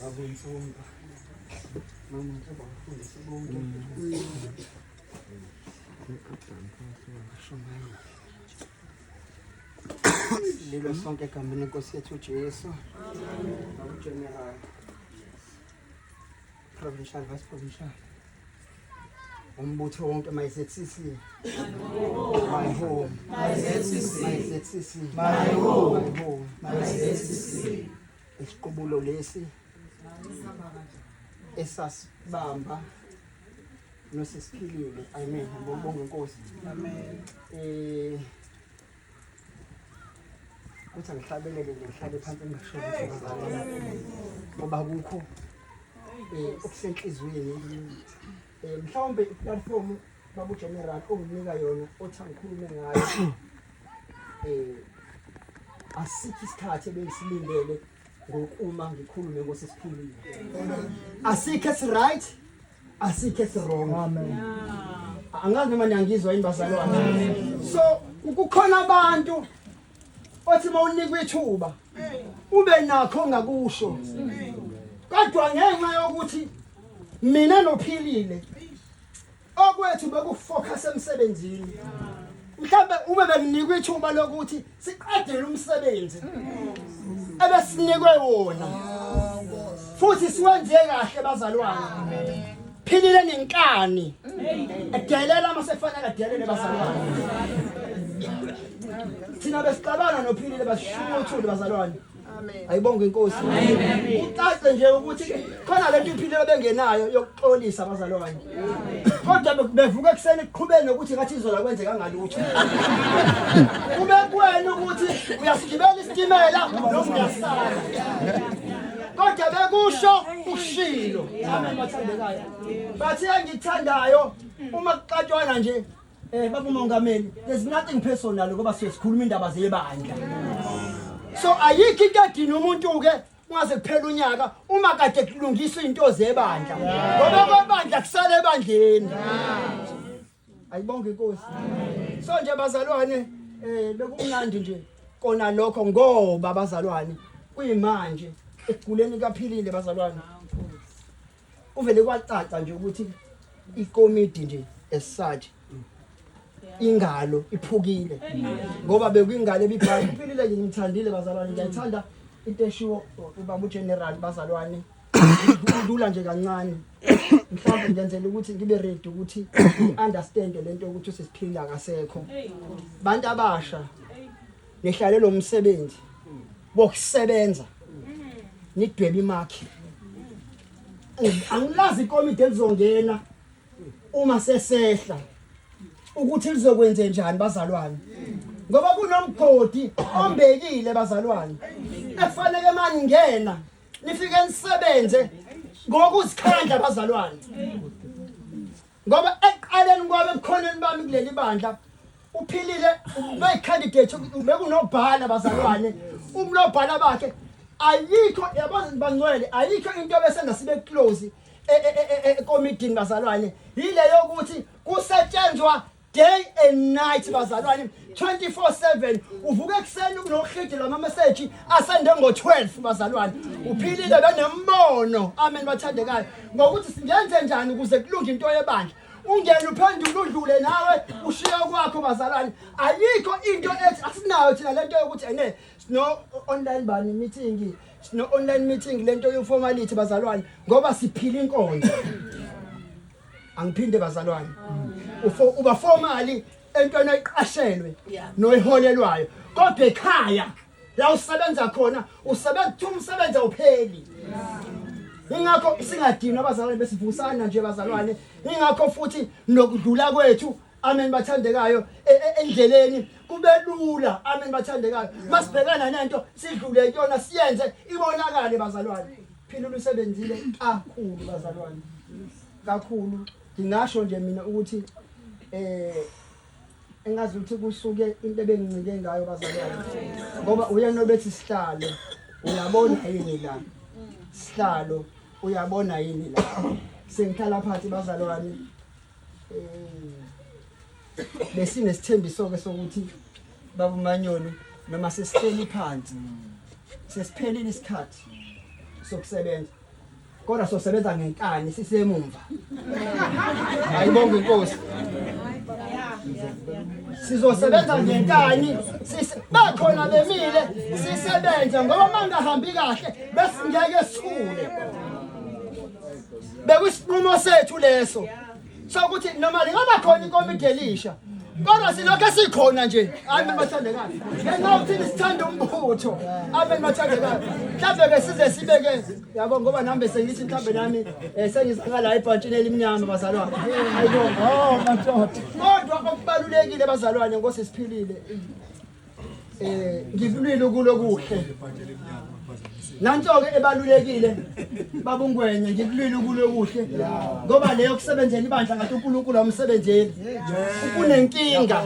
Babumfunda. Mama njengoba ngifundisa bonke. Lilo sonke egameni lenkosi yethu uJesu. Amen. Amen. Provincial Vice Provincial umbutho wonke my ZCC my home my ZCC my ZCC my home my home my ZCC isiqubulo lesi esasibamba nosisiphilile amen ngibonga inkosi amen eh ukuthi angihlabeleke ngihlale phansi ngisholo ngoba kukho um okusenhliziyweni um mhlawumbe iplatform babugeneral onginika yona othi angikhulume ngayo um asikho isikhathi ebengisilindele ngokuma ngikhulume ngosesiphilile asikho esiright asikhe sirongo angazi noma niyangizwa yini bazalwane so kukhona abantu othi uma unikwa ithuba ube nakho ngakusho kodwa ngenxa yokuthi mina nophilile okwethu bekufocus emsebenzini mhlawumbe uma benginikwa ithuba lokuthi siqedele umsebenzi ebesinikwe wona futhi siwenze kahle bazalwane philile nenkani edelela uma sefanele adelele bazalwane thina besixabana nophilile basishukuthule bazalwane ayibonge inkosi ucace nje ukuthi khona lento impilo bengenayo yokuxolisa abazalwane kodwa bevuka ekuseni kuqhubeni nokuthi ngathi izola kwenzeka ngalutho kube kuwena ukuthi uyasigibela isitimela noma uyasala kodwa bekusho ushilo amen bathandekayo bathi engithandayo uma kuqatshwana nje Eh baba uMongameli, there's nothing personal ngoba sesikhuluma indaba zebandla. So ayikho into edina umuntu ke ungaze kuphela unyaka uma kade kulungisa into zebandla. Ngoba kwebandla kusale ebandleni. Ayibonge inkosi. So nje bazalwane eh bekumnandi nje kona lokho ngoba bazalwane kuyimanje ekuguleni kaphilile bazalwane. kuvele kwacaca nje ukuthi ikomidi nje esathi ingalo iphukile ngoba bekwingalo ebibhali impilile nje ngithandile bazalwane ngiyayithanda into eshiwo ubaba ugeneral bazalwane kulula nje kancane mhlawumbe ngenzela ukuthi ngibe ready ukuthi understand lento ukuthi sesiphila kasekho bantu abasha Nihlale lo msebenzi wokusebenza nidwebe imakhi. Angilazi ikomidi elizongena uma sesehla ukuthi lizokwenze njani bazalwane. Ngoba kunomgodi ombekile bazalwane. Efanele mani ngena nifike nisebenze ngokuzikhandla bazalwane. Ngoba ekuqaleni kwami ebukhoneni bami kuleli bandla uphilile ubeyicandidate bekunobhala bazalwane umlobhala bakhe ayikho yabazi bangcwele ayikho into besena sibe close ekomidini bazalwane yile yokuthi kusetshenzwa day and night bazalwane 24/7 uvuka ekuseni kunohidi lwamameseji asende ngo-12 bazalwane uphilile benembono amen bathandekayo ngokuthi singenze njani ukuze kulunge into yebandla ungene uphendule udlule nawe ushiye kwakho bazalwane ayikho into ethi asinayo thina lento yokuthi ene sino online bani meeting sino online meeting lento yoformality bazalwane ngoba siphila inkonzo angiphinde bazalwane uba formally entweni oyiqashelwe noyiholelwayo kodwa ekhaya la usebenza khona usebenza ukuthi umsebenzi awupheli ingakho singadinwa abazalwane besivusana nje bazalwane ingakho futhi nokudlula kwethu amen bathandekayo e, e, endleleni kube lula amen bathandekayo masibhekana nento sidlule kuyona siyenze ibonakale bazalwane phila ulusebenzile kakhulu bazalwane kakhulu Ngingasho nje mina ukuthi eh engazi ukuthi kusuke into ebengincike ngayo bazalwane ngoba uyena obethi sihlalo uyabona yini la sihlalo uyabona yini la sengihlala phansi bazalwane eh besinesithembiso ke sokuthi babumanyoni noma sesihleli phansi sesiphelile isikhathi sokusebenza kodwa sosebenza ngenkani sisemumva ayibonge inkosi sizosebenza ngenkani bakhona bemile sisebenze ngoba mangahambi kahle besingeke sithule bekusinqumo sethu leso sokuthi noma lingaba khona inkomidi elisha kodwa silokhu esikhona nje amen bathandekayo ngenxa yokuthini sithanda umbutho amen bathandekayo mhlawumbe-ke size sibeke yabo ngoba nami bese ngithi mhlawumbe nami um sengizaka la ebhantshini elimnyama bazalwane kodwa okubalulekile bazalwane ngosesiphilile eh ngivulile ukulokuhle nanto-ke ebalulekile babungwenye ngikulwile ukulokuhle ngoba leyo kusebenzela ibandla ngathi unkulunkulu awumsebenzeli kunenkinga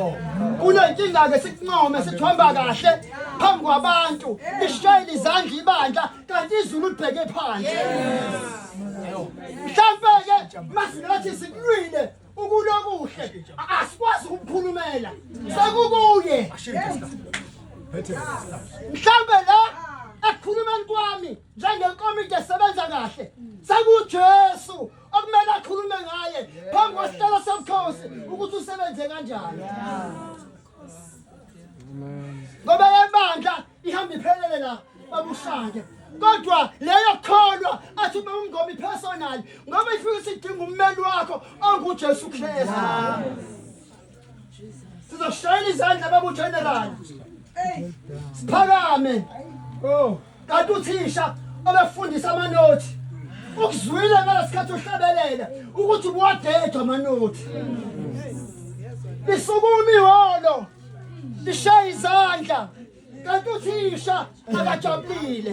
kunenkinga-ke sikuncome sithomba kahle phambi kwabantu lishayela izandla ibandla kanti izulu libheke phandle mhlampe-ke masinathi sikulwile ukulokuhle asikwazi ukuphulumela sekukuye mhlambe la ekukhulumeni kwami njengenkomiti esebenza kahle sekujesu okumele akhulume ngaye phambi kwesihlelo sobukhosi ukuthi usebenze kanjani ngoba yebandla ihamba iphelele la babushake kodwa leyo kholwa athi uma umngomi personal ngoba ifike isidinga ummeli wakho onguJesu Kristu sizoshayela izandla babu general siphakame oh kanti uthisha obefundisa amanothi ukuzwile ngalesikhathi uhlabelela ukuthi ubuwadedwa amanothi lisukuma iholo lishaye izandla kanti uthisha akajabulile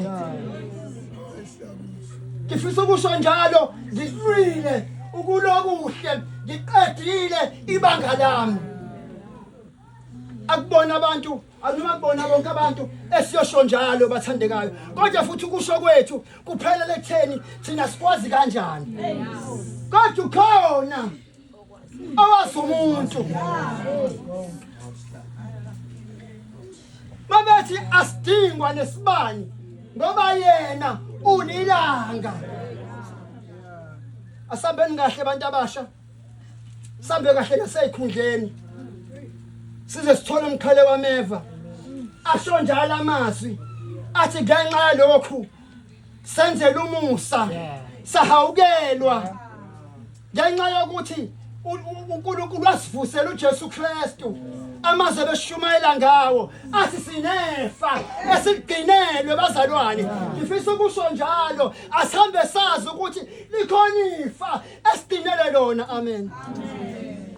ngifisa ukusho njalo ngilwile ukulokuhle ngiqedile ibanga lami akubona abantu anoma kubona bonke abantu esiyosho njalo bathandekayo kodwa futhi ukusho kwethu kuphelele ekutheni thina sikwazi kanjani kodwa ukhona awazi umuntu mabethi asidingwa nesibani ngoba yena unilanga asambeni kahle abantu abasha sambe kahle nasezikhundleni size sithole umqhele wameva asho njalo amazwi athi ngenxa yalokhu senzele umusa sahawukelwa ngenxa yokuthi uNkulunkulu wasivusela uJesu Kristu amaze beshumayela ngawo athi sinefa esigcinelwe bazalwane ngifisa ukusho njalo asihambe sazi ukuthi likhona ifa esidinele lona amen, amen.